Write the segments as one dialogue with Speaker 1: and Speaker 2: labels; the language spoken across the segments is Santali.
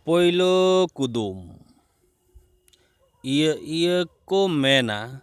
Speaker 1: ᱯᱳᱭᱞᱳ ᱠᱩᱫᱩᱢ ᱤᱭᱟᱹ ᱤᱭᱟᱹ ᱠᱚ ᱢᱮᱱᱟ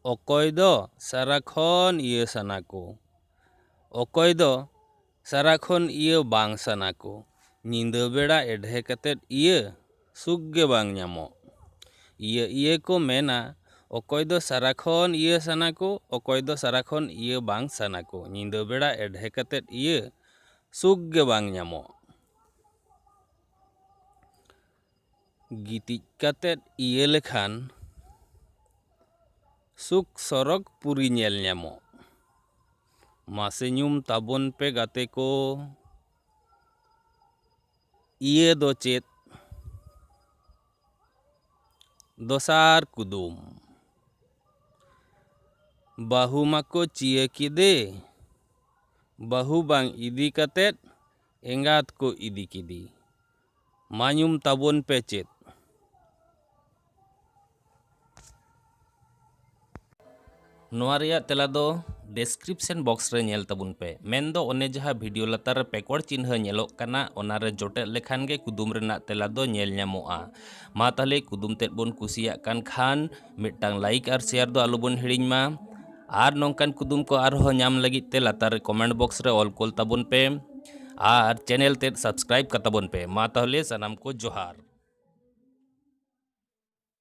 Speaker 1: ᱚᱠᱚᱭ ᱫᱚ ᱥᱟᱨᱟ ᱠᱷᱚᱱ ᱤᱭᱟᱹ ᱥᱟᱱᱟ ᱠᱚ ᱚᱠᱚᱭ ᱫᱚ ᱥᱟᱨᱟ ᱠᱷᱚᱱ ᱤᱭᱟᱹ ᱵᱟᱝ ᱥᱟᱱᱟ ᱠᱚ ᱧᱤᱫᱟᱹ ᱵᱮᱲᱟ ᱮᱰᱷᱮ ᱠᱟᱛᱮᱫ ᱤᱭᱟᱹ ᱥᱩᱠ ᱜᱮ ᱵᱟᱝ ᱧᱟᱢᱚᱜ᱾ ᱤᱭᱟᱹ ᱤᱭᱟᱹ ᱠᱚ ᱢᱮᱱᱟ ᱚᱠᱚᱭ ᱫᱚ ᱥᱟᱨᱟ ᱠᱷᱚᱱ ᱤᱭᱟᱹ ᱥᱟᱱᱟ ᱠᱚ ᱚᱠᱚᱭ ᱫᱚ ᱥᱟᱨᱟ ᱠᱷᱚᱱ ᱤᱭᱟᱹ ᱵᱟᱝ ᱥᱟᱱᱟ ᱠᱚ ᱧᱤᱫᱟᱹ ᱵᱮᱲᱟ ᱮᱰᱷᱮ ᱠᱟᱛᱮᱫ ᱤᱭᱟᱹ ᱥᱩᱠ ᱜᱮ ᱵᱟᱝ ᱧᱟᱢᱚᱜ᱾ ᱜᱤᱛᱤᱡ ᱠᱟᱛᱮᱫ ᱤᱭᱟᱹ ᱞᱮᱠᱷᱟᱱ ᱥᱩᱠ ᱥᱚᱨᱚᱜᱽ ᱯᱩᱨᱤ ᱧᱮᱞ ᱧᱟᱢᱚᱜ᱾ ᱢᱟᱥᱮ ᱧᱩᱢ ᱛᱟᱵᱚᱱ ᱯᱮ ᱜᱟᱛᱮ ᱠᱚ᱾ ᱤᱭᱟᱹ ᱫᱚ ᱪᱮᱫ ᱫᱚᱥᱟᱨ ᱠᱩᱫᱩᱢ ᱵᱟᱹᱦᱩ ᱢᱟᱠᱚ ᱪᱤᱭᱟᱹ ᱠᱮᱫᱮ ᱵᱟᱹᱦᱩ ᱵᱟᱝ ᱤᱫᱤ ᱠᱟᱛᱮᱫ ᱮᱸᱜᱟᱛ ᱠᱚ ᱤᱫᱤ ᱠᱮᱫᱮ ᱢᱟ ᱧᱩᱢ ᱛᱟᱵᱚᱱ ᱯᱮ ᱪᱮᱫ ᱱᱚᱣᱟ ᱨᱮᱭᱟᱜ ᱛᱮᱞᱟ ᱫᱚ ᱰᱮᱥᱠᱨᱤᱯᱥᱮᱱ ᱵᱚᱠᱥ ᱨᱮ ᱧᱮᱞ ᱛᱟᱵᱚᱱ ᱯᱮ ᱢᱮᱱᱫᱚ ᱚᱱᱮ ᱡᱟᱦᱟᱸ ᱵᱷᱤᱰᱤᱭᱳ ᱞᱟᱛᱟᱨ ᱨᱮ ᱯᱮᱠᱚᱲ ᱪᱤᱱᱦᱟᱹ ᱧᱮᱞᱚᱜ ᱠᱟᱱᱟ ᱚᱱᱟ ᱨᱮ ᱡᱚᱴᱮᱫ ᱞᱮᱠᱷᱟᱱ ᱜᱮ ᱠᱩᱫᱩᱢ ᱨᱮᱱᱟᱜ ᱛᱮᱞᱟ ᱫᱚ ᱧᱮᱞ ᱧᱟᱢᱚᱜᱼᱟ ᱢᱟ ᱛᱟᱦᱞᱮ ᱠᱩᱫᱩᱢ ᱛᱮᱫ ᱵᱚᱱ ᱠᱩᱥᱤᱭᱟᱜ ᱠᱟᱱ ᱠᱷᱟᱱ ᱢᱤᱫᱴᱟᱝ ᱞᱟᱭᱤᱠ ᱟᱨ ᱥᱮᱭᱟᱨ ᱫᱚ ᱟᱞᱚᱵᱚᱱ ᱦᱤᱲᱤᱧ ᱢᱟ ᱟᱨ ᱱᱚᱝᱠᱟᱱ ᱠᱩᱫᱩᱢ ᱠᱚ ᱟᱨᱦᱚᱸ ᱧᱟᱢ ᱞᱟᱹᱜᱤᱫ ᱛᱮ ᱞᱟᱛᱟᱨ ᱨᱮ ᱠᱚᱢᱮᱱᱴ ᱵᱚᱠᱥ ᱨᱮ ᱚᱞ ᱠᱳᱞ ᱛᱟᱵᱚᱱ ᱯᱮ ᱟᱨ ᱪᱮᱱᱮᱞ ᱛᱮᱫ ᱥᱟᱵᱥᱠᱨᱟᱭᱤᱵ ᱠᱟᱛᱟᱵᱚᱱ ᱯᱮ ᱢᱟ ᱛᱟᱦᱚᱞᱮ ᱥᱟᱱᱟᱢ ᱠᱚ ᱡᱚᱦᱟᱨ